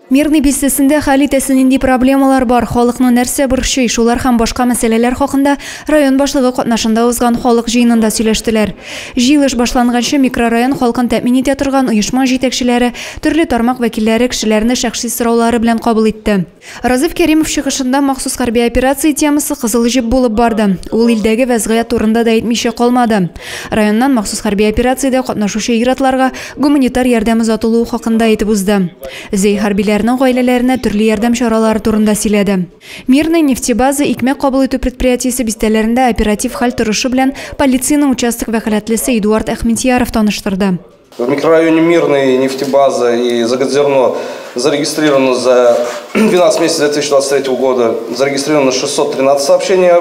Мирный бистәсендә хәл итәсе нинди проблемалар бар, халыкны нәрсә борчый, шулар һәм башка мәсьәләләр хакында район башлыгы катнашында узган халык җыенында сөйләштеләр. Җыелыш башланганчы микрорайон халкын тәэмин итә торган оешма җитәкчеләре, төрле тармак вәкилләре кешеләрне шәхси сораулары белән кабул итте. Разиф Кәримов чыгышында махсус хәрби операция темасы кызыл җеп булып барды. Ул илдәге вәзгыять турында да әйтмичә калмады. Районнан махсус хәрби операциядә катнашучы ир-атларга гуманитар ярдәм озатылуы хакында әйтеп узды. Зей хәрбиләрнең гаиләләренә төрле ярдәм чаралары турында сөйләде. Мирный нефтебаза икмәк кабул итү предприятиесе бистәләрендә оператив хәл торышы белән полициянең участок вәкаләтлесе Эдуард Әхмедьяров таныштырды. В микрорайоне Мирный нефтебаза и Загодзерно зарегистрировано за 12 месяцев 2023 года зарегистрировано 613 сообщения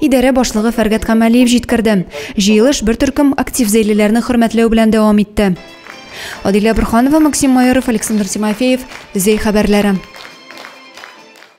Идарә башлыгы Фәргат Камалиев җиткерде. Җыелыш бер төркем актив зәйлеләрне хөрмәтләү белән дәвам итте. Адилә Бурханова, Максим Майоров, Александр Тимофеев, Зәй хәбәрләре.